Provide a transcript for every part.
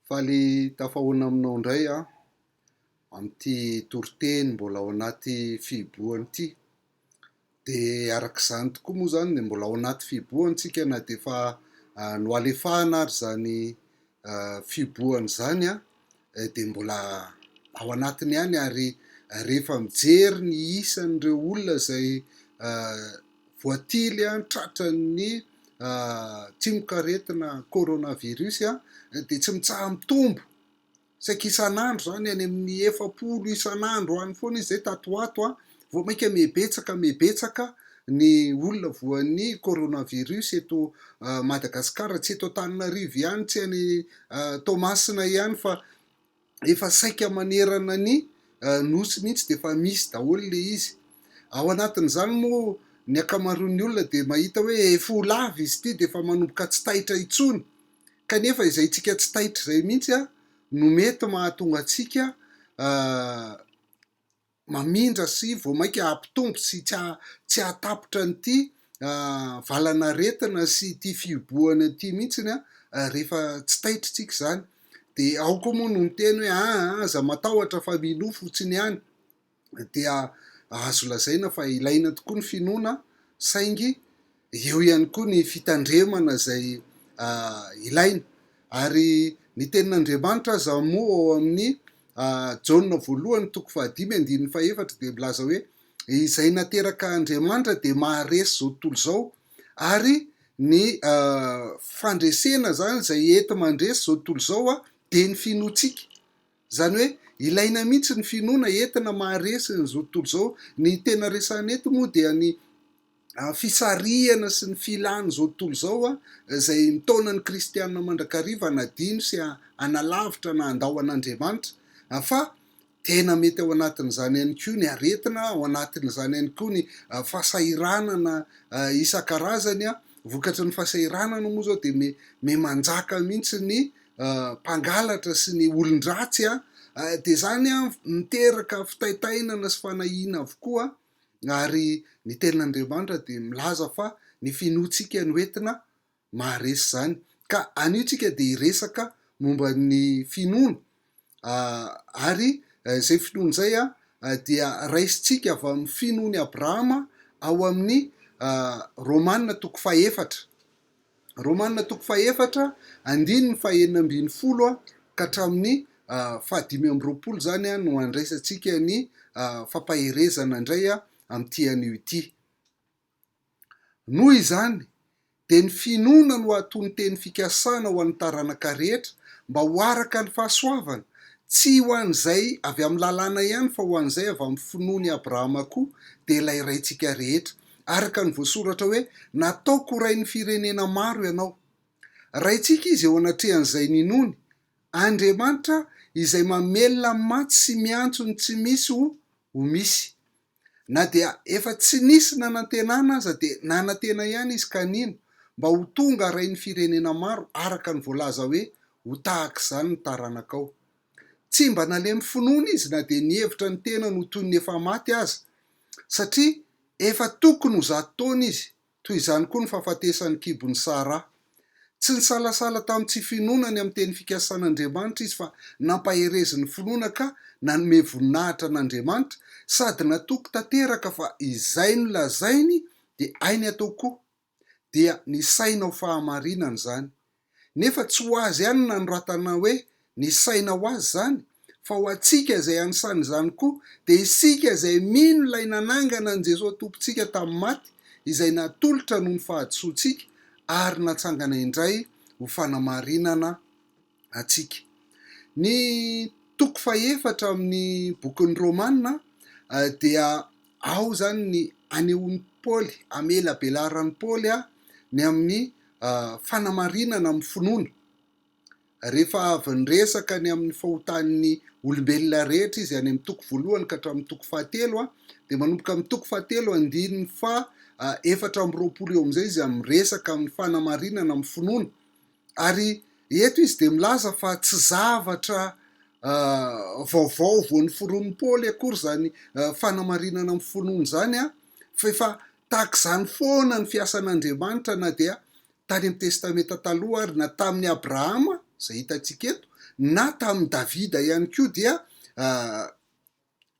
Faly tafahoana aminao indray aho amin'ity toriteny mbola ao anaty fihibohana ity. Dia araka izany tokoa moa izany dia mbola ao anaty fihibohana isika na dia efa nohalefahana ary izany fihibohana izany dia mbola ao anatiny ihany ary rehefa mijery ny isan'ireo olona izay voatily tratran'ny tsimokaretina coronavirus dia tsy mitsaha-mitombo, saika isan'andro izany any amin'ny efapolo isan'andro any foana izy izay tato ho ato Vao mainka mihebetsaka mihebetsaka ny olona voan'ny coronavirus eto Madagasikara. Tsy eto Antananarivo ihany, tsy any Toamasina ihany fa efa saika manerana ny Nosy mihitsy dia efa misy daholo ilay izy. Ao anatin'izany moa ny ankamaroan'ny olona dia mahita hoe efa ho lava izy ity dia efa manomboka tsy taitra intsony. Kanefa izay antsika tsy taitra izay mihitsy no mety mahatonga antsika mamindra sy vao mainka hampitombo sy tsy hahatapitra an'ity valanaretina sy ity fihibohana ity mihitsy rehefa tsy taitritsika izany. Dia ao koa moa no miteny hoe aa aza matahotra fa minoa fotsiny ihany. Dia azo lazaina fa ilaina tokoa ny finoana saingy eo ihany koa ny fitandremana izay ilaina. Ary ny tenin'Andriamanitra aza moa ao amin'ny Jaona voalohany toko fahadimy andininy fahefatra dia milaza hoe, izay nateraka Andriamanitra dia maharesy izao tontolo izao. Ary ny fandresena izany, izay enti-mandresy izao tontolo izao dia ny finoantsika. Izany hoe ilaina mihitsy ny finoana entina maharesy an'izao tontolo izao. Ny tena resahana eto moa dia ny fisarihana sy ny filan'izao tontolo izao izay mitaona ny kristiana mandrakariva hanadino sy hanalavitra na handao an'Andriamanitra. Fa tena mety ao anatin'izany ihany koa ny aretina, ao anatin'izany ihany koa ny fahasahiranana isan-karazany. Vokatry ny fahasahiranana moa izao dia miha manjaka mihitsy ny mpangalatra sy ny olon-dratsy dia izany miteraka fitaitainana sy fanahiana avokoa ary ny tenin'Andriamanitra dia milaza fa ny finoantsika no entina maharesy izany ka anio tsika dia hiresaka momba ny finoana Ary izay finoana izay dia raisintsika avy amin'ny finoan' i Abrahama ao amin'ny Romana toko fahefatra, Romana toko fahefatra andininy fahenina ambin'ny folo ka hatramin'ny fahadimy amby roapolo izany no andraisantsika ny fampaherezana indray amin'ity anio ity. Noho izany, dia ny finoana no atonon-teny fikasana ho an'ny taranaka rehetra mba ho araka ny fahasoavana, tsy ho an'izay avy amin'ny lalàna ihany fa ho an'izay avy amin'ny finoan' i Abrahama koa, dia ilay Raintsika rehetra. Araka ny voasoratra hoe, Nataoko ho rain'ny firenena maro ianao. Raintsika izy eo anatrehan'izay ninoany, Andriamanitra izay mamelona ny maty sy miantso ny tsy misy ho ho misy. Na dia efa tsy nisy nanantenana aza dia nanantena ihany izy ka nino mba ho tonga rain'ny firenena maro araka ny voalaza hoe ho tahaka izany ny taranakao. Tsy mba nalemy finoana izy na dia nihevitra ny tenany ho toy ny efa maty aza satria efa tokony ho zato taona izy Toy izany koa ny fahafatesan'ny kibon'i Sara. Tsy nisalasala tamin'ny tsy finoana ny amin'ny teny fikasan'Andriamanitra izy fa nampaherezin'ny finoana ka nanome voninahitra an'Andriamanitra sady natoky tanteraka fa izay nolazainy dia hainy atao koa. Dia nisaina ho fahamarinana izany. Nefa tsy ho azy ihany no nanoratana hoe ny saina ho azy izany, fa ho antsika izay anisany izany koa, dia isika izay mino ilay nanangana an'i Jesoa Tompontsika tamin'ny maty, izay natolotra noho ny fahadisoantsika ary natsangana indray ho fanamarinana antsika. Ny toko fahefatra amin'ny bokin'ny Romana dia ao izany ny anehoan'i Paoly, hamela abelaharan'i Paoly ny amin'ny fanamarinana amin'ny finoana. Rehefa avy niresaka ny amin'ny fahotan'ny olombelona rehetra izy any amin'ny toko voalohany ka hatramin'ny toko fahatelo, dia manomboka amin'ny toko fahatelo andininy faha efatra amby roapolo eo amin'izay izy miresaka amin'ny fanamarinana amin'ny finoana. Ary eto izy dia milaza fa tsy zavatra vaovao vao noforonin'i Paoly akory izany fanamarinana amin'ny finoana izany, fa efa Tahaka izany foana ny fiasan'Andriamanitra na dia tany amin'ny Testamenta Taloha ary na tamin'i Abrahama, izay hitantsika eto, na tamin'i Davida ihany koa dia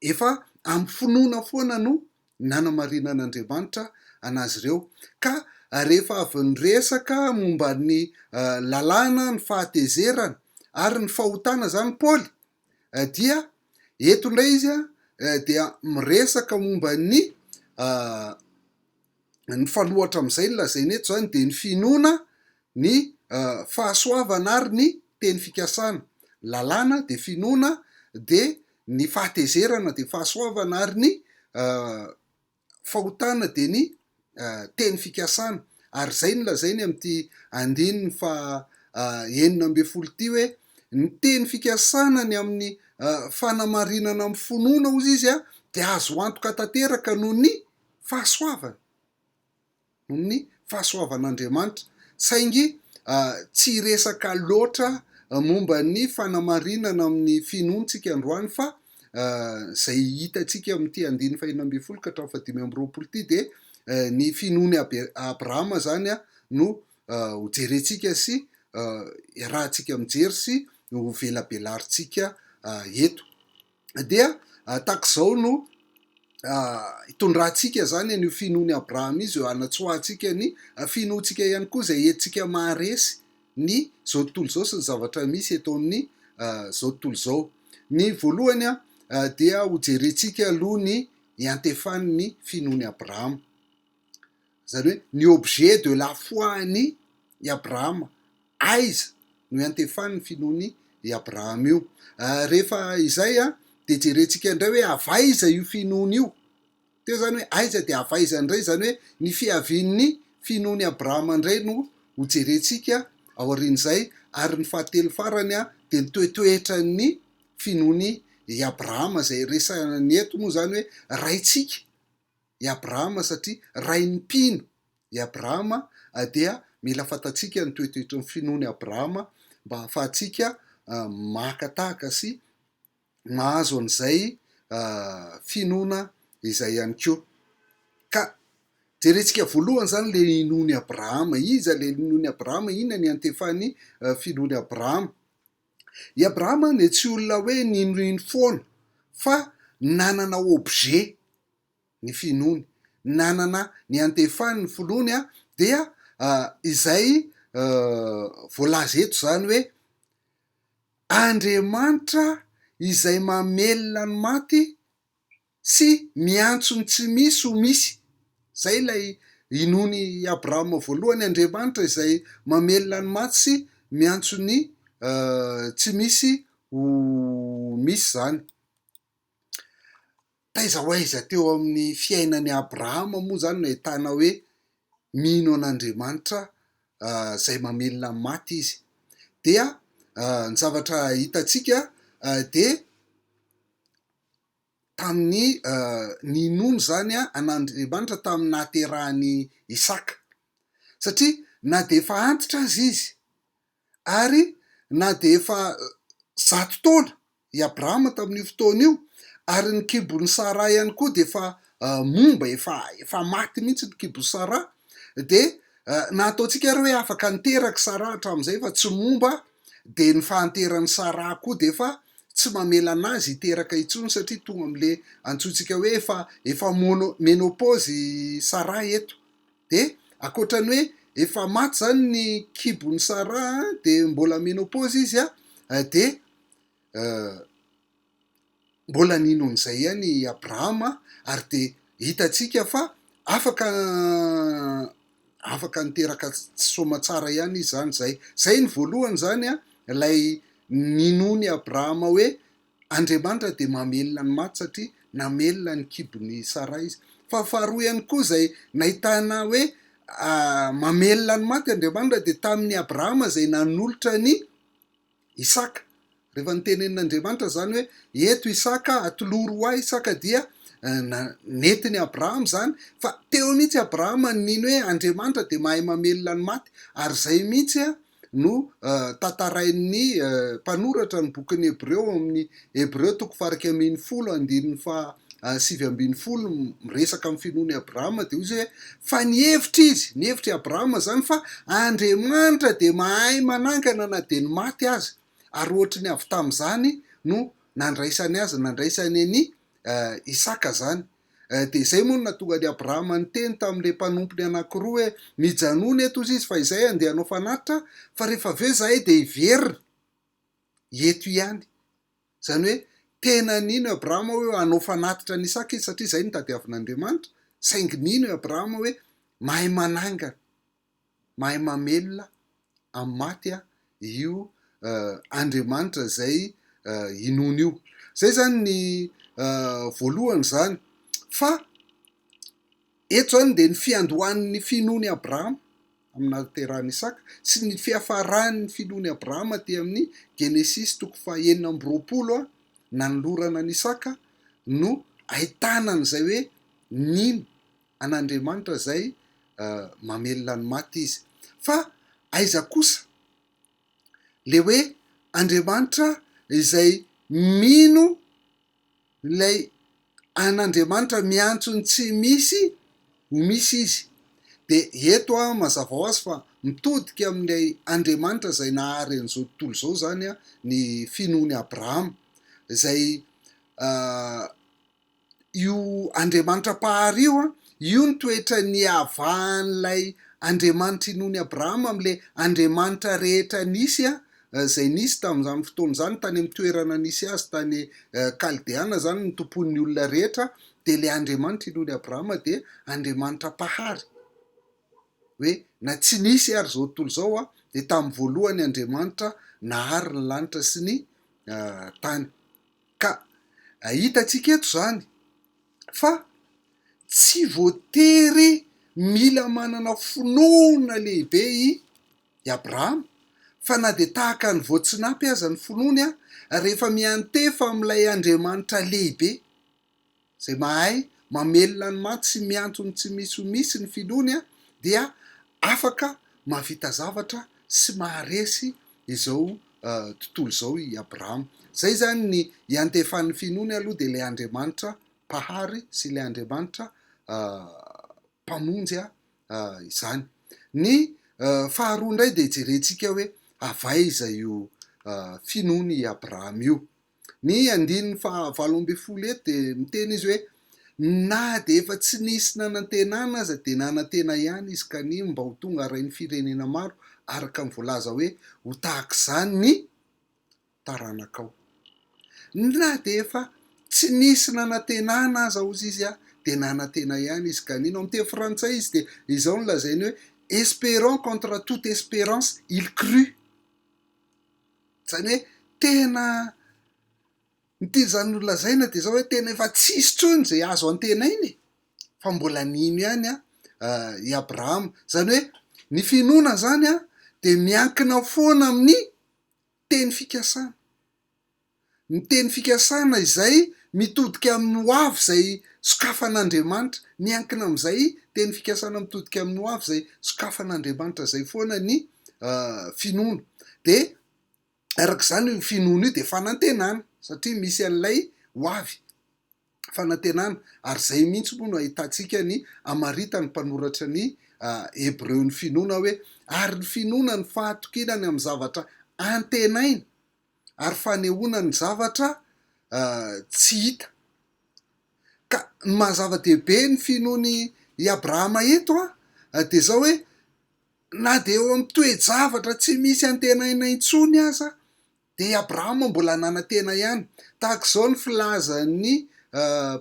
efa amin'ny finoana foana no nanamarinan'Andriamanitra an'azy ireo. Ka rehefa avy niresaka momba ny lalàna, ny fahatezerana ary ny fahotana izany Paoly dia eto indray izy dia miresaka momba ny mifanohatra amin'izay ny lazainy eto izany dia ny finoana ny fahasoavana ary ny teny fikasana. Lalàna dia finoana dia ny fahatezerana dia fahasoavana ary ny fahotana dia ny teny fikasana ary izay no lazainy amin'ity andininy faha enina ambin'ny folo ity hoe ny teny fikasana ny amin'ny fanamarinana amin'ny finoana hozy izy dia azo antoka tanteraka noho ny fahasoavana. noho ny fahasoavan'Andriamanitra, saingy tsy hiresaka loatra momba ny fanamarinana amin'ny finoantsika androany fa izay hitantsika amin'ity andininy fahenina ambin'ny folo ka hatramin'ny fahadimy amby roapolo ity dia ny finoan'i Abrahama izany no hojerentsika sy iarahantsika mijery sy hovelabelarintsika eto. dia tahaka izao no hitondrantsika izany an'io finoan'i Abrahama izy eo hanatsoahantsika ny finoantsika ihany koa izay entintsika maharesy ny izao tontolo izao sy ny zavatra misy eto amin'ny izao tontolo izao. Ny voalohany dia hojerentsika aloha ny iantefan'ny finoan'i Abrahama. Izany hoe ny objet de la foi an'i i Abrahama, aiza no iantefan'ny finoan'i i Abrahama io. Rehefa izay dia jerentsika indray hoe avy aiza io finoany io. Teo izany hoe aiza dia avy aiza indray, izany hoe ny fiavian'ny finoan'i Abrahama indray no ho jerentsika aorian'izay. Ary ny fahatelo farany dia ny toetoetran'ny finoan'i i Abrahama, izay resahany eto moa izany hoe raintsika. i Abrahama satria rain'ny mpino i Abrahama dia mila fantatsika ny toetoetry ny finoan'i Abrahama mba hahafahantsika maka tahaka sy mahazo an'izay finoana izay ihany koa. Ka jerentsika voalohany izany ilay inoan'i Abrahama. Iza ilay inoan'i Abrahama? Inona ny antefan'ny finoan'i Abrahama? I Abrahama dia tsy olona hoe ninoino foana fa nanana objet. ny finoany nanana ny antefany ny foloany a dia izay voalaza eto izany hoe Andriamanitra izay mamelona ny maty sy miantso ny tsy misy ho misy izay ilay inoany Abrahama voalohany Andriamanitra izay mamelona ny maty sy miantso ny tsy misy ho misy izany Taiza ho aiza teo amin'ny fiainan'i Abrahama moa izany no ahitana hoe mino an'Andriamanitra izay mamelona ny maty izy? Dia ny zavatra hitantsika dia tamin'ny ninoany izany an'Andriamanitra tamin'ny nahaterahan'i Isaka, satria na dia efa antitra aza izy Ary na dia efa zato taona i Abrahama tamin'io fotoana io, ary ny kibon'i Saraha ihany koa dia efa momba, efa, efa maty mihitsy ny kibon'i Saraha, dia na ataontsika ary hoe afaka niteraka i Saraha hatramin'izay fa tsy momba, dia ny fahanteran'i Saraha koa dia efa tsy mamela an'azy hiteraka intsony satria tonga amin'ilay antsointsika hoe efa, efa mono, menopause i Saraha eto. Dia ankoatra ny hoe efa maty izany ny kibon'i Sara dia mbola menopause izy dia mbola nino an'izay ihany i Abrahama ary dia hitantsika fa afaka afaka niteraka tsy soamatsara ihany izy izany izay. Izay ny voalohany izany ilay ninoan'i Abrahama hoe Andriamanitra dia mamelona ny maty satria namelona ny kibon'ny Saraha izy. Fa faharoa ihany koa izay nahitana hoe mamelona ny maty Andriamanitra dia tamin'i Abrahama izay nanolotra an'i Isaka. Rehefa notenenin'Andriamanitra izany hoe eto Isaka, atolory ho ahy Isaka dia nentin'i Abrahama izany fa teo mihitsy Abrahama no nino hoe Andriamanitra dia mahay mamelona ny maty ary izay mihitsy no tantarain'ny mpanoratra ny bokin'ny Hebreo ao amin'ny Hebreo toko faha iraika ambin'ny folo andininy faha sivy ambin'ny folo miresaka amin'ny finoan'i Abrahama dia hoy izy hoe fa nihevitra izy, nihevitra i Abrahama izany fa Andriamanitra dia mahay manangana na dia ny maty aza ary ohatry ny avy tamin'izany no nandraisany azy, nandraisany an'i Isaka izany. Dia izay moa no nahatonga an'i Abrahama niteny tamin'ilay mpanompony anankiroa hoe, Mijanona eto hozy izy fa izay handeha hanao fanatitra, fa rehefa avy eo izahay dia hiverina eto ihany. Izany hoe tena nino i Abrahama hoe hanao fanatitra an'i Isaka izy satria izay no tadiavin'Andriamanitra, saingy nino i Abrahama hoe mahay manangana. mahay mamelona amin'ny maty a io Andriamanitra izay inoana io. Izay izany ny voalohany izany. Fa eto izany dia ny fiandohan'ny finoan'i Abrahama amin'ny nahaterahan'i Isaka sy ny fiafaran'ny finoan'i Abrahama aty amin'ny Genesisy toko fahenina amby roapolo nanolorana an'i Isaka no ahitana an'izay hoe nino an'Andriamanitra izay mamelona ny maty izy. Fa aiza kosa le hoe Andriamanitra izay mino ilay an'Andriamanitra miantso ny tsy misy ho misy izy. De eto an mazava ho azy fa mitodika amin'ilay Andriamanitra izay nahary an'izao tontolo izao izany an ny finoan'i Abrahama izay io Andriamanitra Mpahary io, io ny toetra niavahan'ilay Andriamanitra inoan'i Abrahama amin'ilay Andriamanitra rehetra nisy, izay nisy tamin'izany fotoana izany, tany amin'ny toerana nisy azy tany Kaldeana izany nitompoan'ny olona rehetra, dia ilay Andriamanitra inoan'i Abrahama dia Andriamanitra Mpahary, hoe na tsy nisy ary izao tontolo izao aho dia tamin'ny voalohany Andriamanitra nahary ny lanitra sy ny tany. Ka hitantsika eto izany fa tsy voatery mila manana finoana lehibe i Abrahama fa na dia tahaka ny voatsinapy aza ny finoany rehefa miantefa amin'ilay Andriamanitra lehibe Izay mahay mamelona ny maty sy miantso ny tsy misy ho misy ny finoany dia afaka mahavita zavatra sy maharesy izao tontolo izao i Abrahama. Izay izany ny iantefan'ny finoany aloha dia ilay Andriamanitra Mpahary sy ilay Andriamanitra Mpamonjy izany. Ny faharoa indray dia hijerentsika hoe avy aiza io finoany i Abrahama io. Ny andininy faha valo ambin'ny folo eto dia miteny izy hoe, Na dia efa tsy nisy nanantenana aza dia nanantena ihany izy kany mba ho tonga rain'ny firenena maro araka ny voalaza hoe ho tahaka izany ny taranakao. Na dia efa tsy nisy nanantenana aza hozy izy a, dia nanantena ihany izy kany. Ny amin'ny teny frantsay izy dia izao no lazainy hoe, Espérant contre toute espérance, il crut. Izany hoe tena, ny tena nolazaina dia izao hoe tena efa tsy hisy intsony izay azo antenaina e! fa mbola nino ihany i Abrahama. Izany hoe ny finoana izany dia miankina foana amin'ny teny fikasana. Ny teny fikasana izay mitodika amin'ny ho avy izay sokafan'Andriamanitra, miankina amin'izay teny fikasana mitodika amin'ny ho avy izay sokafan'Andriamanitra izay foana ny finoana. Dia araka izany io finoana io dia fanantenana, satria misy an'ilay ho avy, fanantenana. Ary izay mihitsy moa no ahitantsika ny hamaritan'ny mpanoratra ny Hebreo ny finoana hoe, ary ny finoana ny fahatokinana amin'ny zavatra antenaina, ary fanehoana ny zavatra tsy hita. Ka ny maha zava-dehibe ny finoany i Abrahama eto dia izao hoe, na dia eo amin'ny toe-javatra tsy misy antenaina intsony aza dia i Abrahama mbola nanantena ihany. Tahaka izao ny filazan'ny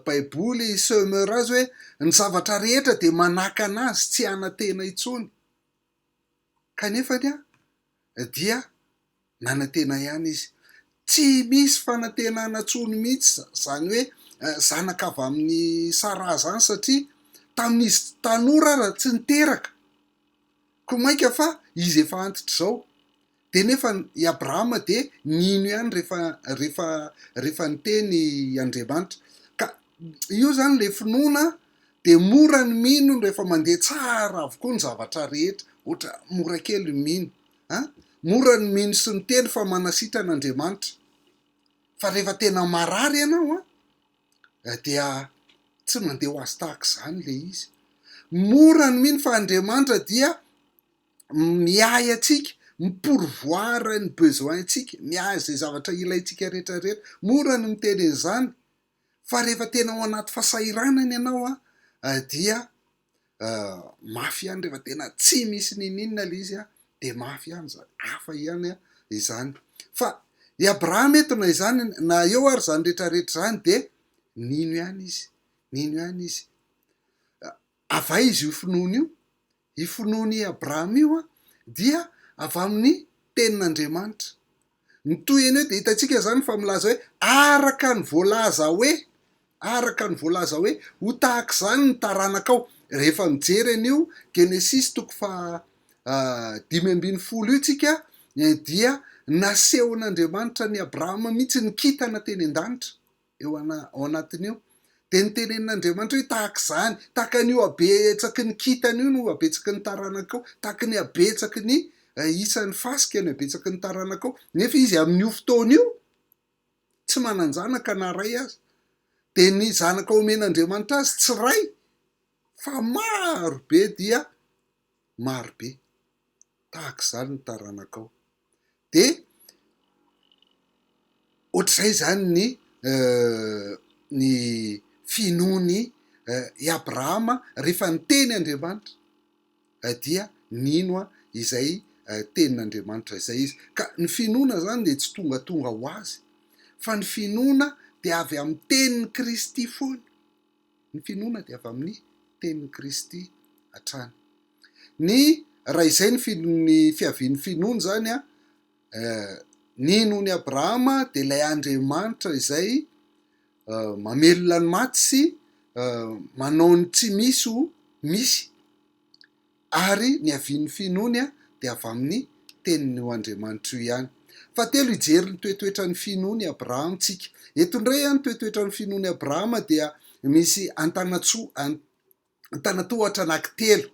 Baiboly i Sömer azy hoe, ny zavatra rehetra dia manakana azy tsy hanantena intsony. kanefa dia nanantena ihany izy. Tsy misy fanantenana intsony mihitsy izany hoe zanaka avy amin'i Saraha izany satria tamin'izy tanora ary tsy niteraka, koa mainka fa izy efa antitra izao. Dia nefa i Abrahama dia nino ihany rehefa, rehefa, rehefa niteny Andriamanitra. Ka io izany ilay finoana an, dia mora ny mino rehefa mandeha tsara avokoa ny zavatra rehetra, ohatra mora kely ny mino an, mora ny mino sy miteny fa manasitrana Andriamanitra. Fa rehefa tena marary ianao an, dia tsy mandeha ho azy tahaka izany ilay izy. Mora ny mino fa Andriamanitra dia miahy antsika, mi-pourvoir ny besoin ntsika, miahy izay zavatra ilaintsika rehetra rehetra. Mora ny miteny an'izany fa rehefa tena ao anaty fasahiranana ianao an, dia mafy ihany rehefa tena tsy misy niniana ilay izy an, dia mafy ihany izany, hafa ihany izany. Fa i Abrahama eto na izany na eo ary izany rehetra rehetra izany dia nino ihany izy, nino ihany izy. Avay izy io finoana io, Io finoan' i Abrahama io dia avy amin' ny tenin' Andriamanitra. Ny tohiny eo dia hitantsika izany fa milaza hoe araka ny voalaza hoe, araka ny voalaza hoe, ho tahaka izany ny taranakao. Rehefa mijery an' io Genesisy toko fahadimy ambin'ny folo io isika dia nasehon' Andriamanitra an' i Abrahama mihitsy ny kintana teny an-danitra. eo ana, ao anatiny eo. Dia ny tenenin'Andriamanitra hoe tahaka izany, tahaka an'io habetsaky ny kintana io no habetsaky ny taranakao, tahaka ny habetsaky ny eh, isan'ny fasika ny habetsaky ny taranakao. Nefa izy amin'io fotoana io, tsy manan-janaka na ray aza. Dia ny zanaka omen'Andriamanitra azy tsy ray, fa maro be dia maro be. Tahaka izany ny taranakao. dia ohatr'izay izany ny ny finoan'i i Abrahama rehefa niteny Andriamanitra dia nino izay tenin'Andriamanitra izay izy, ka ny finoana izany dia tsy tongatonga ho azy fa ny finoana dia avy amin'ny tenin'i Kristy foana. Ny finoana dia avy amin'ny tenin'i Kristy hatrany. Ny raha izay ny ny fiavian'ny finoana izany an, ny nohon'i Abrahama dia ilay Andriamanitra izay mamelona ny maty sy manao ny tsy misy ho misy. Ary ny havian'ny finoany dia avy amin'ny Tenin'io Andriamanitra io ihany. Fahatelo, hijery ny toetoetran'ny finoan'i Abrahama isika. Eto indray, ny toetoetran'ny finoan'i Abrahama dia misy antanatsoa, antanatohatra anankitelo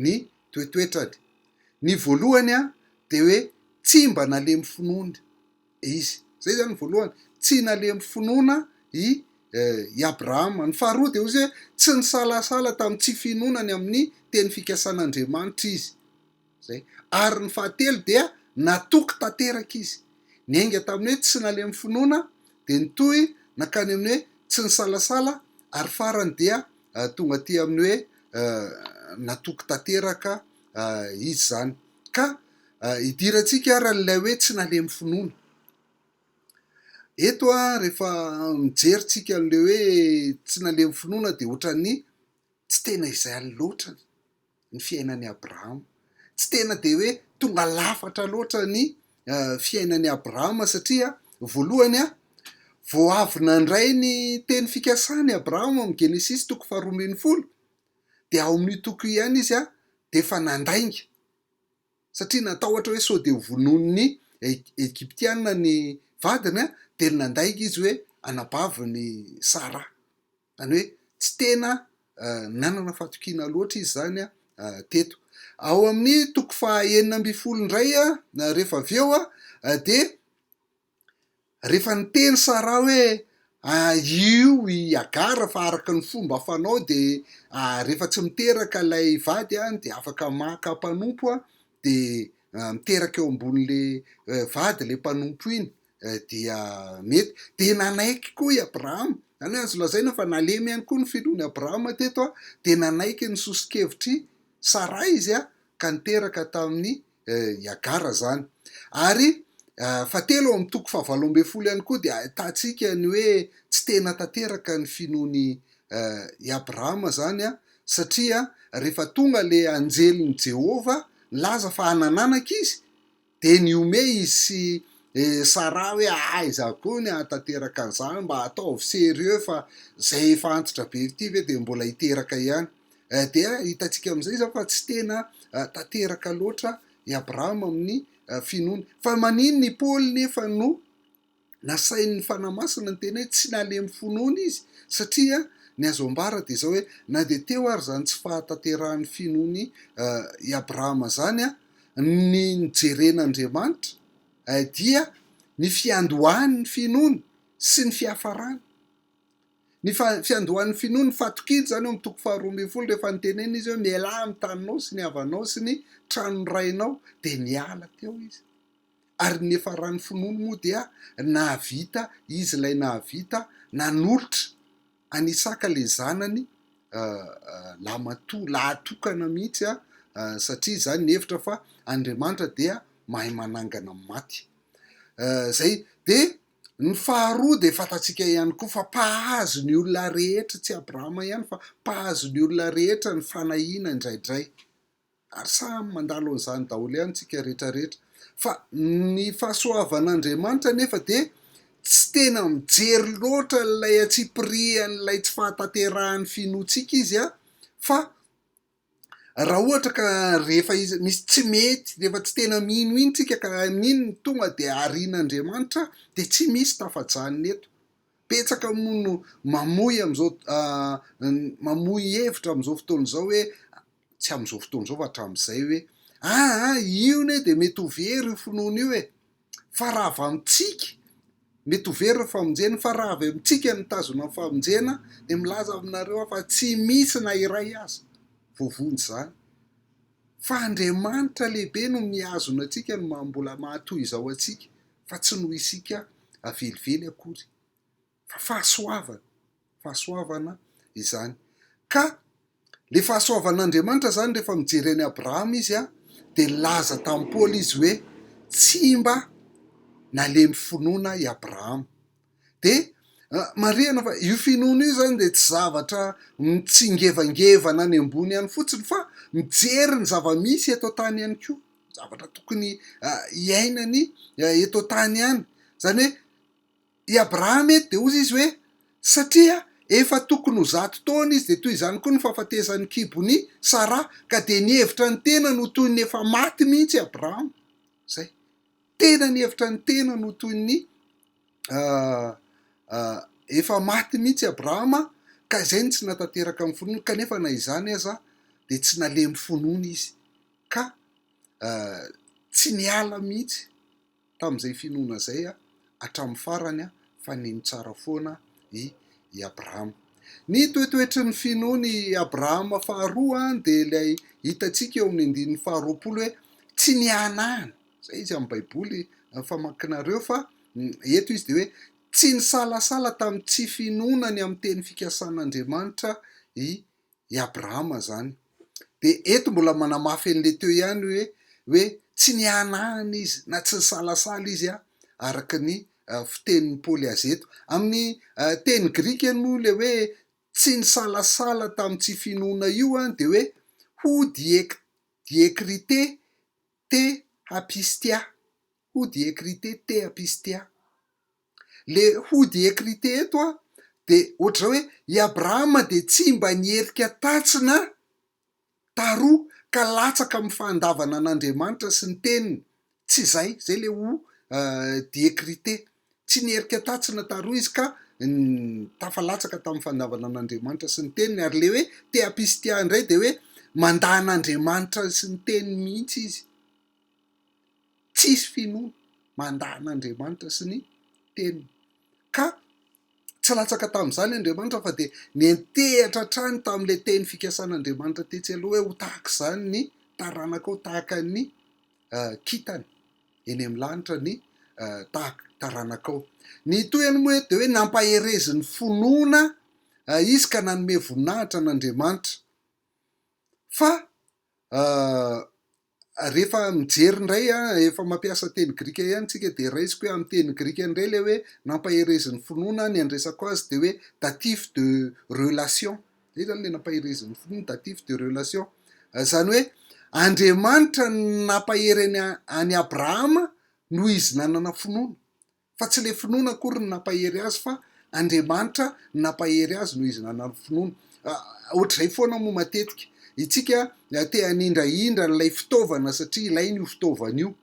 ny toetoetrany. Ny voalohany dia hoe tsy mba nalemy finoany. izy. Izay izany ny voalohany. Tsy nalemy finoana i i Abrahama. Ny faharoa dia hoe tsy nisalasala tamin'ny tsy finoana ny amin'ny teny fikasan'Andriamanitra izy. Izay. Ary ny fahatelo dia natoky tanteraka izy. Niainga tamin'ny hoe tsy nalemy finoana, dia nitohy nankany amin'ny hoe tsy nisalasala, ary farany dia tonga aty amin'ny hoe natoky tanteraka izy izany. Ka idirantsika ary an'ilay hoe tsy nalemy finoana. Eto rehefa mijery tsika an'ilay hoe tsy nalemy finoana dia ohatran'ny tsy tena izay any loatra ny fiainan'i Abrahama. Tsy tena dia hoe tonga lafatra loatra ny fiainan'i Abrahama satria voalohany a, vao avy nandray ny teny fikasany Abrahama amin'ny Genesisy toko faharoa ambin'ny folo dia ao amin'io toko io ihany izy dia efa nandainga satria natahotra hoe sao dia ho vonoin'ny Egyptiana ny vadiny dia nandainga izy hoe anabaviny Sarah. Izany hoe tsy tena nanana fatokiana loatra izy izany teto. Ao amin'ny toko faha enina ambin'ny folo indray rehefa avy eo dia Rehefa niteny Saraha hoe, Aio i Hagara fa araka ny fomba fanao dia rehefa tsy miteraka ilay vady dia afaka maka mpanompo dia miteraka eo ambonin'ilay vady ilay mpanompo iny dia mety. Dia nanaiky koa i Abrahama, izany hoe azo lazaina fa nalemy ihany koa ny finoan'i Abrahama teto dia nanaiky ny soso-kevitr'i Saraha izy ka niteraka tamin'i Niagara zany. Ary fahatelo ao amin'ny toko fahavalo ambin'ny folo ihany koa dia ahitantsika ny hoe tsy tena tanteraka ny finoany i Abrahama zany satria rehefa tonga ilay anjelin'i Jehovah nilaza fa hanananaka izy dia nihomehy izy sy Sarah hoe aiza koa ny hahatanteraka an'izany, mba ataovy sérieux fa izay efa antitra be ity ve dia mbola hiteraka ihany. Dia hitantsika amin'izay izany fa tsy tena tanteraka loatra i Abrahama amin'ny finoany. Fa maninona i Paoly nefa no nasain'ny Fanahy Masina niteny hoe tsy nalemy fo noana izy? Satria ny azo ambara dia izao hoe na dia teo ary izany tsy fahatanterahan'ny finoany i Abrahama izany, ny nijerena Andriamanitra dia ny fiandohan'ny finoany sy ny fiafarany. Ny fiandohan'ny finoany fatokiana izany ao amin'ny toko faharoa ambin'ny folo rehefa nitenenina izy hoe mialà amin'ny taninao sy ny havanao sy ny tranon'ny rainao dia niala teo izy ary ny niafaran'ny finoany moa dia nahavita izy ilay nahavita nanolotra an'i Isaka ilay zanany lamatoa lahatokana mihitsy satria izany nihevitra fa Andriamanitra dia mahay manangana amin'ny maty izay dia Ny faharoa dia fantatsika ihany koa fa mpahazo ny olona rehetra, tsy Abrahama ihany fa mpahazo ny olona rehetra ny fanahiana indraidray. Ary samy mandalo an'izany daholo ihany isika rehetrarehetra. Fa ny fahasoavan'Andriamanitra anefa dia tsy tena mijery loatra ilay antsipirihan'ilay tsy fahatanterahan'ny finoantsika izy fa Raha ohatra ka rehefa misy tsy mety, rehefa tsy tena mino iny tsika ka amin'iny no tonga dia arian'Andriamanitra dia tsy misy tafajanona eto. Betsaka moa no mamoy amin'izao mamoy hevitra amin'izao fotoana izao hoe, tsy amin'izao fotoana izao fa hatramin'izay hoe, aa io anie dia mety ho very io finoana io e! fa raha avy amintsika, mety ho very ny famonjena, fa raha avy amintsika no mitazona ny famonjena, dia milaza aminareo aho fa tsy misy na iray aza voavonjy izany. Fa Andriamanitra lehibe no mihazona antsika, no maha mbola maha toy izao antsika, fa tsy noho isika velively akory. fa fahasoavana, fahasoavana izany ka le fahasoavan'Andriamanitra zany rehefa mijery an'i Abrahama izy a de nilaza tamin'i Paoly izy hoe tsy mba nalemy finoana i Abrahama de marihana fa io finoana io zany de tsy zavatra mitsingevangevana any ambony ihany fotsiny fa mijery ny zava-misy eto an-tany ihany koa zavatra tokony hiainany eto an-tany ihany zany hoe i Abrahama eto dia hozy izy hoe, satria efa tokony ho zato taona izy dia toy izany koa ny fahafatesan'ny kibon'i Sara, ka dia nihevitra ny tenany ho toy ny efa maty mihitsy i Abrahama. Izay. Tena nihevitra ny tenany ho toy ny efa maty mihitsy i Abrahama, ka izay no tsy natanteraka amin'ny finoany, kanefa na izany aza dia tsy nalemy finoany izy, ka tsy niala mihitsy tamin'izay finoana izay hatramin'ny farany fa nino tsara foana i Abrahama. Ny toetoetry ny finoan'i Abrahama faharoa dia ilay hitantsika eo amin'ny andininy faharoapolo hoe tsy nihanahana. Izay izy amin'ny Baiboly famakinareo fa eto izy dia hoe tsy nisalasala tamin'ny tsy finoana ny amin'ny teny fikasan'Andriamanitra i i Abrahama izany. Dia eto mbola manamafy an'ilay teo ihany hoe hoe tsy nihanahana izy na tsy nisalasala izy araka ny fitenin'i Paoly azy eto. Amin'ny teny grika moa ilay hoe tsy nisalasala tamin'ny tsy finoana io dia hoe ho diek diekrite te hapistia, ho diekrite te hapistia. Le hody ecrite eto a de ohatr'izao hoe i Abrahama dia tsy mba nierika tatsy na taroa ka latsaka amin'ny fahandavana an'Andriamanitra sy ny teniny, tsy izay, zay le hody ecrite, tsy nierika tatsy na taroa izy ka tafalatsaka tamin'ny fahandavana an'Andriamanitra sy ny teniny, ary le hoe te'apistia indray dia hoe mandà an'Andriamanitra sy ny teniny mihitsy izy. tsisy finoana mandà an'Andriamanitra sy ny Teniny. Ka tsy latsaka tamin'izany Andriamanitra fa dia niantehatra hatrany tamin'ilay teny fikasan'Andriamanitra tetsy aloha hoe ho tahaka izany ny taranakao, tahaka ny kintana eny amin'ny lanitra ny taranakao. Ny tohiny moa eto dia hoe nampaherezin'ny finoana izy ka nanome voninahitra an'Andriamanitra. Fa Rehefa mijery indray, efa mampiasa teny grika ihany isika, dia raisiko hoe amin'ny teny grika indray ilay hoe nampaherezin'ny finoana, ny handresako azy dia hoe datif de relation, izay izany ilay nampaherezin'ny finoana, datif de relation, izany hoe Andriamanitra no nampahery an'i Abrahama noho izy nanana finoana. Fa tsy le finoana akory no nampahery azy fa Andriamanitra no nampahery azy noho izy nanana finoana. Ohatr'izay foana moa matetika itsika te hanindrahindra an'ilay fitaovana satria ilaina io fitaovana io,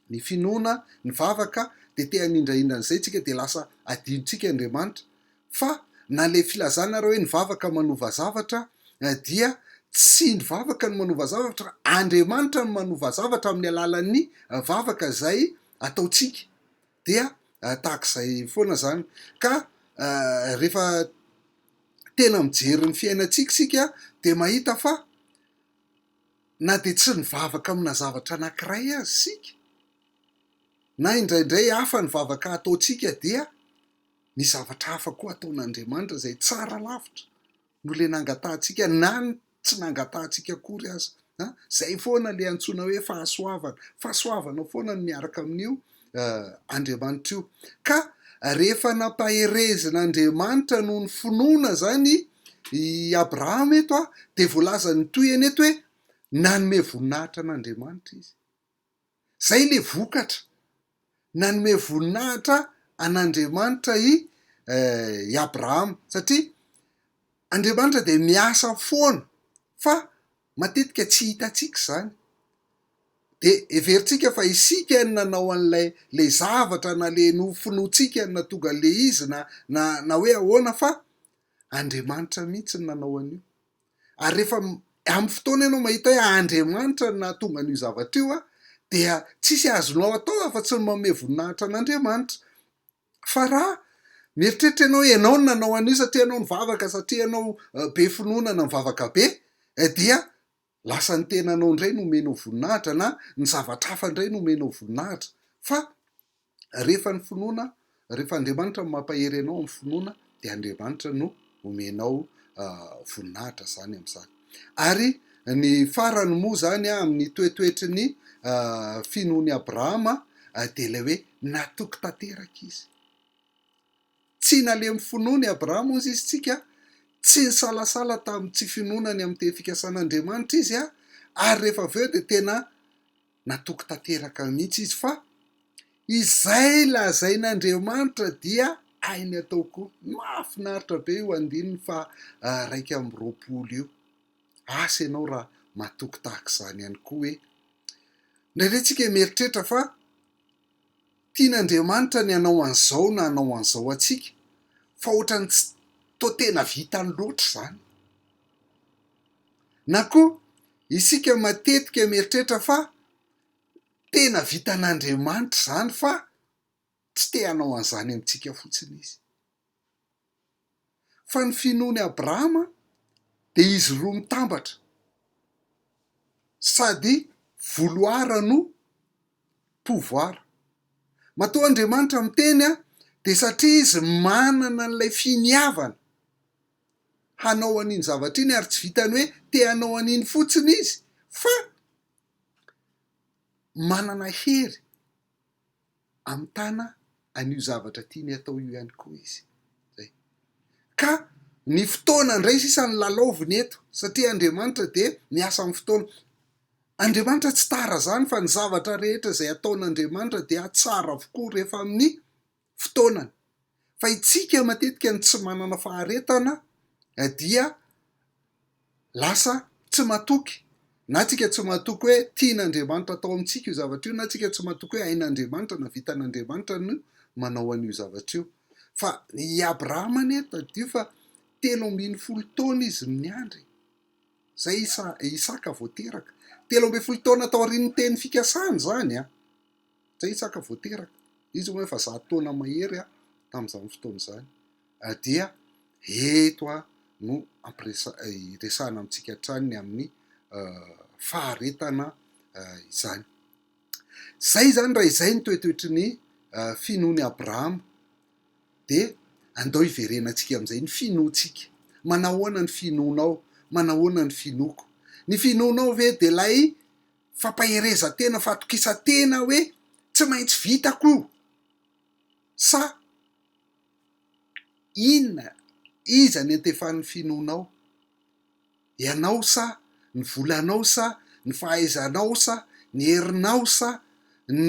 ny finoana, ny vavaka dia te hanindrahindra an'izay itsika dia lasa adinontsika Andriamanitra. Fa na le filazana ary hoe ny vavaka manova zavatra dia tsy ny vavaka no manova zavatra fa Andriamanitra no manova zavatra amin'ny alalan'ny vavaka izay ataontsika dia tahaka izay foana izany ka rehefa tena mijery ny fiainantsika isika dia mahita fa na dia tsy nivavaka amina zavatra anankiray aza isika na indraindray hafa ny vavaka ataontsika dia misy zavatra hafa koa ataon'Andriamanitra izay tsara lavitra. no le nangatahantsika na ny tsy nangatahantsika akory aza a! zay foana le antsoina hoe fahasoavana, fahasoavana foana no miaraka amin'io Andriamanitra io ka rehefa nampaherezina Andriamanitra noho ny finoana zany i Abrahama eto a! de voalazany toy eny eto hoe nanome voninahitra an'Andriamanitra izy, Izay ilay vokatra. Nanome voninahitra an'Andriamanitra i Abrahama satria Andriamanitra dia miasa foana fa matetika tsy hitantsika izany. Dia heverintsika fa isika no nanao an'ilay ilay zavatra na ilay nofinoantsika no nahatonga an'ilay izy na na na hoe ahoana fa Andriamanitra mihitsy no nanao an'io. ary rehefa amin'ny fotoana ianao mahita hoe Andriamanitra no nahatonga an'io zavatra io, dia tsisy azonao atao afa-tsy ny manome voninahitra an'Andriamanitra. Fa raha mieritreritra ianao hoe ianao no nanao an'io satria ianao nivavaka, satria ianao be finoana na nivavaka be, eh dia lasa ny tenanao indray no omenao voninahitra na ny zavatra hafa indray no omenao voninahitra. Fa Rehefa ny finoana, rehefa Andriamanitra no mampahery anao amin'ny finoana dia Andriamanitra no omenao voninahitra izany amin'izany. Ary ny farany moa izany amin'ny toetoetry ny finoan'i Abrahama dia ilay hoe natoky tanteraka izy. Tsy nalemy finoana i Abrahama hozy izy tsika, tsy nisalasala tamin'ny tsy finoana ny amin'ny teny fikasan'Andriamanitra izy, ary rehefa avy eo dia tena natoky tanteraka mihitsy izy fa izay lazain'Andriamanitra dia hainy atao koa. Mahafinaritra be io andininy faharaika amby roapolo io. Asa ianao raha matoky tahaka izany ihany koa hoe. Indraindray isika mieritreritra fa. Tian'Andriamanitra ny hanao an'izao na hanao an'izao antsika fa ohatran'ny tsy toa tena vitany loatra izany. Na koa isika matetika mieritreritra fa tena vitan'Andriamanitra izany fa tsy te hanao an'izany amintsika fotsiny izy. Fa ny finoan'i Abrahama dia izy roa mitambatra, sady vouloir no pouvoir. Matoa Andriamanitra miteny dia satria izy manana an'ilay finiavana hanao an'iny zavatra iny ary tsy vitan'ny hoe te hanao an'iny fotsiny izy fa manana hery Hamitana an'io zavatra tiany hatao io ihany koa izy. Izay. Ka ny fotoana indray sisa no lalaoviny eto, satria Andriamanitra dia miasa amin'ny fotoana. Andriamanitra tsy tara izany fa ny zavatra rehetra izay ataon'Andriamanitra dia tsara avokoa rehefa amin'ny fotoanany. Fa itsika matetika no tsy manana faharetana dia. lasa tsy matoky, na tsika tsy matoky hoe tian'Andriamanitra atao amintsika io zavatra io, na tsika tsy matoky hoe hain'Andriamanitra na vitan'Andriamanitra ny manao an'io zavatra io. Fa i Abrahama anie tadidio fa telo ambin'ny folo taona izy no niandry, izay i Isa- i Isaka vao teraka. Telo ambin'ny folo taona taorian'ny teny fikasana izany an! izay Isaka vao teraka. Izy hono efa zato taona mahery an! tamin'izany fotoana izany. dia eto no ampiresahana amintsika hatrany ny amin'ny faharetana izany. Izay izany raha izay ny toetoetry ny finoan'i Abrahama dia andao hiverenantsika amin'izay ny finoantsika. Manahoana ny finoanao? Manahoana ny finoako? Ny finoanao ve dia ilay fampaherezan-tena, fatokisan-tena hoe tsy maintsy vitako io sa Inona? Iza ny antefan'ny finoanao? Ianao sa ny volanao sa ny fahaizanao sa ny herinao sa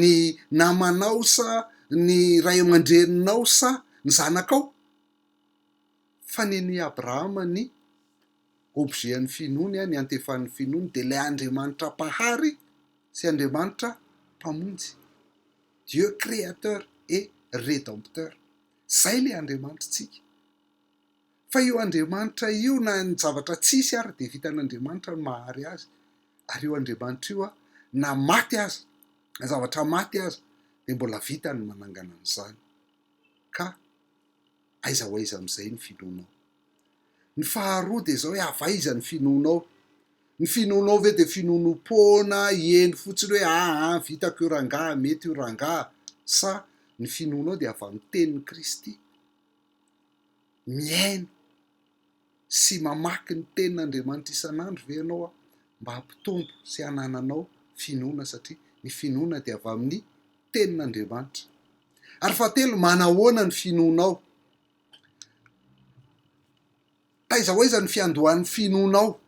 ny namanao sa ny ray aman-dreninao sa ny zanakao? Fa nen'i Abrahama ny objet an'ny finoany, ny antefan'ny finoany dia ilay Andriamanitra Mpahary sy Andriamanitra Mpamonjy, Dieu créateur et rédempteur. Izay ilay Andriamanitritsika. Fa io Andriamanitra io na ny zavatra tsisy ary dia vitan'Andriamanitra ny mahary azy, ary io Andriamanitra io na maty aza, na zavatra maty aza dia mbola vitany ny manangana an'izany. Ka aiza ho aiza amin'izay ny finoanao? Ny faharoa dia izao hoe avaiza ny finoanao? Ny finoanao ve dia finoanoam-poana eny fotsiny hoe aa vitako io rangaha, mety io rangaha? Sa ny finoanao dia avy amin'ny tenin'i Kristy? Mihaino sy mamaky ny tenin'Andriamanitra isan'andro ve ianao mba hampitombo sy hanananao finoana satria ny finoana dia avy amin'ny tenin'Andriamanitra? Ary fahatelo, manahoana ny finoanao? Taiza ho aiza ny fiandohan'ny finoanao?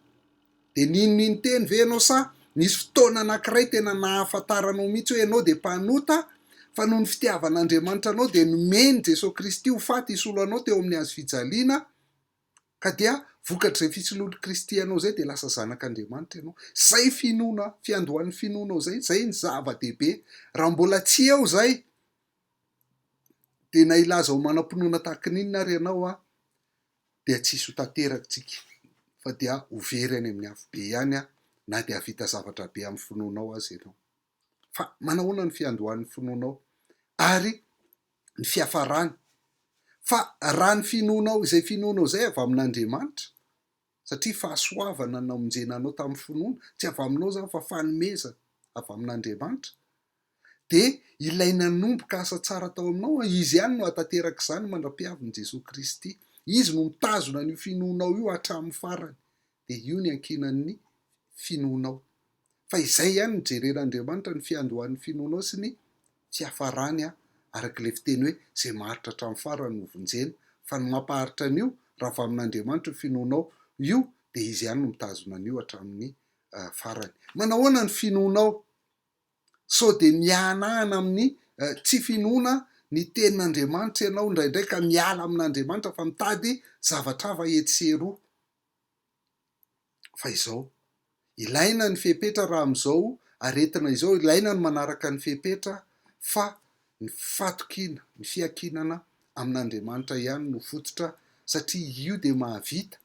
Dia nino-nino-teny ve ianao sa nisy fotoana anankiray tena nahafantaranao mihitsy hoe ianao dia mpanota fa noho ny fitiavan'Andriamanitra anao dia nomeny Jesoa Kristy ho faty hisolo anao teo amin'ny Hazo fijaliana ka dia vokatr'izay fisoloan'i Kristy anao izay dia lasa zanak'Andriamanitra ianao? Izay finoana, fiandohan'ny finoanao izay, izay ny zava-dehibe. Raha mbola tsy eo izay, Dia na hilaza ho manam-pinoana tahaka ny inona ary ianao an, dia tsy hisy ho tanteraktsika fa dia ho very any amin'ny afobe ihany an, na dia hahavita zavatra be amin'ny finoanao aza ianao. Fa manahoana ny fiandohan'ny finoanao ary ny fiafarany? Fa raha ny finoanao izay finoanao izay avy amin'Andriamanitra, satria fahasoavana namonjena anao tamin'ny finoana, tsy avy aminao izany fa fanomezana avy amin'Andriamanitra, dia ilay nanomboka asa tsara tao aminao, Izy ihany no hahatanteraka izany mandra-piavin'i Jesoa Kristy. Izy no mitazona an'io finoanao io hatramin'ny farany, dia io ny ankinan'ny finoanao. Fa izay ihany no jeren'Andriamanitra, ny fiandohan'ny finoanao sy ny fiafarany, araka ilay fiteny hoe, izay maharitra hatramin'ny farany no vonjena. Fa ny mampaharitra an'io, raha avy amin'Andriamanitra io finoanao io, dia Izy ihany no mitazona an'io hatramin'ny farany. Manahoana ny finoanao? Sao dia mihanahana amin'ny tsy finoana ny Tenin'Andriamanitra ianao indraindray ka miala amin'Andriamanitra fa mitady zavatra hafa etsy sy eroa. Fa izao, ilaina ny fepetra raha amin'izao aretina izao, ilaina ny manaraka ny fepetra fa ny fatokiana, ny fiankinana amin'Andriamanitra ihany no fototra satria io dia mahavita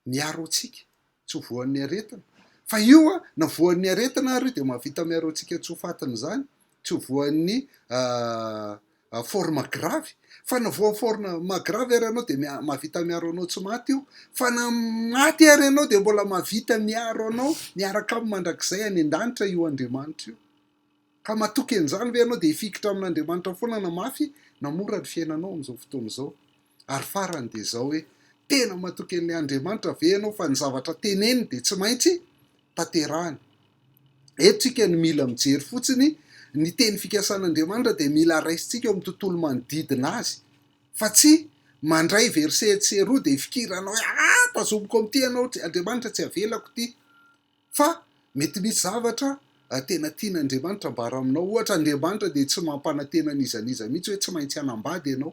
miaro antsika tsy ho voan'ny aretina fa io a na voan'ny aretina ary io dia mahavita miaro antsika tsy ho fatin'izany tsy ho voan'ny forme grave fa na voan'ny forme grave ary ianao dia mahavita miaro anao tsy maty io fa na maty ary ianao dia mbola mahavita miaro anao miaraka amin'ny mandrakizay any an-danitra io Andriamanitra io Ka matoky an'izany ve ianao dia hifikitra amin'Andriamanitra foana na mafy na mora ny fiainanao amin'izao fotoana izao? Ary farany dia izao hoe, tena matoky an'ilay Andriamanitra ve ianao fa ny zavatra teneniny dia tsy maintsy tanterahiny? Eto tsika no mila mijery fotsiny, ny teny fikasan'Andriamanitra dia mila raisintsika ao amin'ny tontolo manodidina azy fa tsy mandray verset etsy sy eroa dia hifikirana hoe ah tazomiko amin'ity ianao Andriamanitra tsy avelako ity. Fa mety misy zavatra tena tian'Andriamanitra ambara aminao. Ohatra, Andriamanitra dia tsy mampanantena an'iza n'iza mihitsy hoe tsy maintsy hanambady ianao.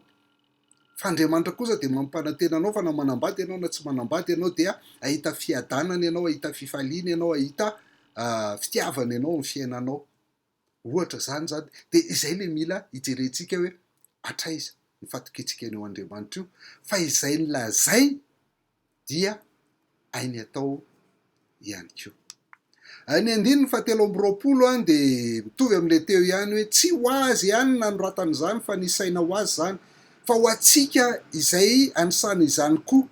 Fa Andriamanitra kosa dia mampanantena anao fa na manambady ianao na tsy manambady ianao dia hahita fiadanana ianao, hahita fifaliana ianao, hahita fitiavana ianao amin'ny fiainanao. Ohatra izany izany dia izay ilay mila hijerentsika hoe hatraiza ny fatokiantsika an'io Andriamanitra io fa izay nolazainy dia hainy atao ihany koa. Ny andininy fahatelo amby roapolo dia mitovy amin'ilay teo ihany hoe tsy ho azy ihany ny nanoratana izany fa ny saina ho azy izany fa ho antsika izay anisany izany koa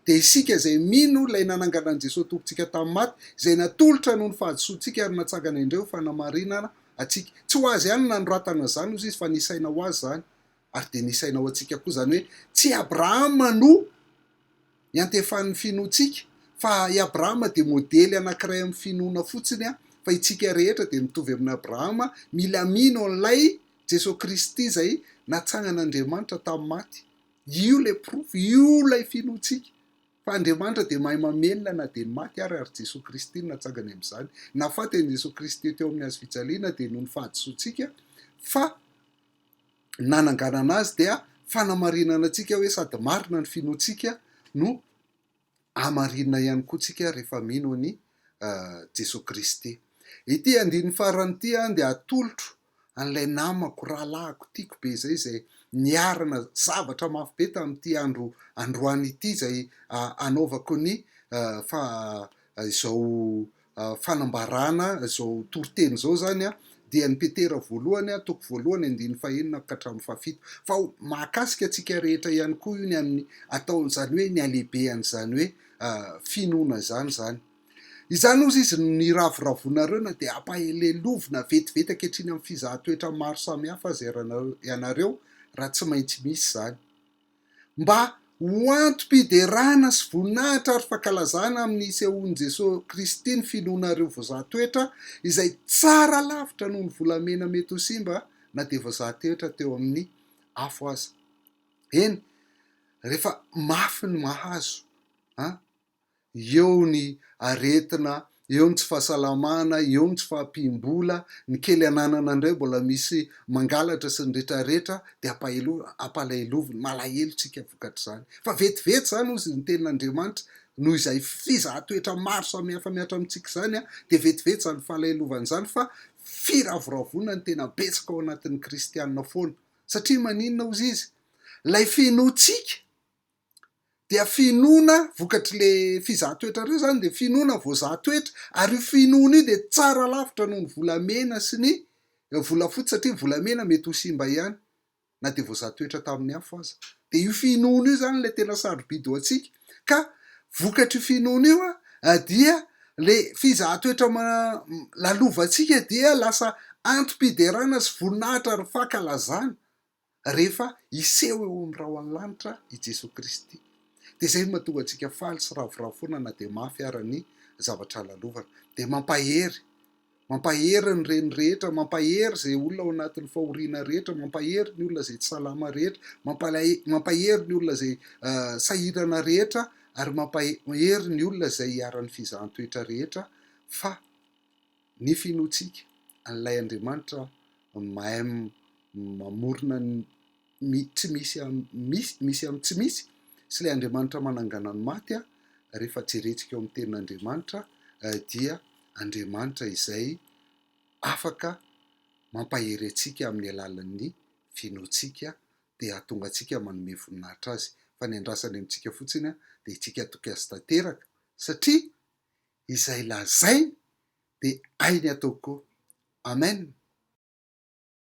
dia isika izay mino Ilay nanangana an'i Jesoa Tompontsika tamin'ny maty, izay natolotra noho ny fahadisoantsika ary natsangana indray ho fanamarinana antsika. Tsy ho Azy ihany no nanoratana izany, hoy izy, fa nisaina ho Azy izany, ary dia nisaina ho antsika koa. Izany hoe, tsy i Abrahama no iantefan'ny finoantsika, fa i Abrahama dia modely anankiray amin'ny finoana fotsiny, fa itsika rehetra dia mitovy amin'i Abrahama, mila mino an'Ilay Jesoa Kristy izay natsangan'Andriamanitra tamin'ny maty, Io ilay porofo, io ilay finoantsika fa Andriamanitra dia mahay mamelona na dia ny maty ary, ary Jesoa Kristy no natsangany amin'izany. Nahafaty an'i Jesoa Kristy teo amin'ny hazo fijaliana dia noho ny fahadisoantsika fa nananganana Azy dia fanamarinana antsika hoe sady marina ny finoantsika no Hamarinina ihany koa tsika rehefa mino an'i Jesoa Kristy. Ity andininy farany ity dia atolotro an'ilay namako, rahalahiko, tiako be izay, izay niarana zavatra mafy be tamin'ity andro androany ity, izay anaovako ny izao fanambarana izao toriteny izao izany dia ny Petera voalohany toko voalohany andininy fahenina ka hatramin'ny fahafito. Fa mahakasika antsika rehetra ihany koa io ny amin'ny atao izany hoe ny halehibehan'izany hoe finoana izany izany. Izany ozy izy no niravoravoanareo na dia ampahalelovina vetivety ankehitriny amin'ny fizahan-toetra maro samihafa aza ianareo raha tsy maintsy misy izany. mba ho antom-piderana sy voninahitra ary fankalazana amin'ny nisehoan'i Jesoa Kristy ny finoanareo vazaha toetra izay tsara lavitra noho ny volamena mety ho simba na dia vazaha toetra teo amin'ny afo aza. Eny, rehefa mafy ny mahazo an! eo ny aretina, eo ny tsy fahasalamana, eo ny tsy fahampiam-bola, ny kely ananana indray mbola misy mangalatra sy ny retraretra dia ampalahelo-ampalaheloviny, malahelo tsika vokatr'izany. Fa vetivety izany hozy ny tenin'Andriamanitra noho izay fizahan-toetra maro samihafa mihatra amintsika izany dia vetivety izany falahelovana izany fa firavoravoana ny tena betsaka ao anatin'ny kristianina foana. Satria maninona hozy izy? Ilay finoantsika. dia finoana vokatr'ilay fizaha toetrareo izany dia finoana voazaha toetra ary io finoana io dia tsara lavitra noho ny volamena sy ny volafotsy satria ny volamena mety ho simba ihany na dia voazaha toetra tamin'ny afo aza dia io finoana io izany ilay tena sarobidy ho antsika ka vokatr'io finoana io a dia le fizaha toetra ma lalovantsika dia lasa antom-piderana sy voninahitra ary fankalazana Rehefa hiseho eo amin'ny rahon'ny lanitra i Jesoa Kristy, dia izay no mahatonga antsika faly sy ravoravo foana na dia mafy ara ny zavatra lalovana. Dia mampahery! Mampahery ny reny rehetra, mampahery izay olona ao anatin'ny fahoriana rehetra, mampahery ny olona izay tsy salama rehetra, mampahery ny olona izay sahirana rehetra, ary mampahery ny olona izay iharan'ny fizahan-toetra rehetra, fa. nefa inoantsika an'ilay Andriamanitra mahay mamorona ny tsy misy amin'ny misy amin'ny tsy misy sy ilay Andriamanitra manangana ny maty rehefa jerentsika eo amin'ny tenin'Andriamanitra dia Andriamanitra izay afaka mampahery antsika amin'ny alalan'ny finoantsika dia hahatonga antsika manome voninahitra Azy fa ny andrasany amintsika fotsiny dia itsika toky Azy tanteraka satria izay lazainy dia hainy atao koa. Amen.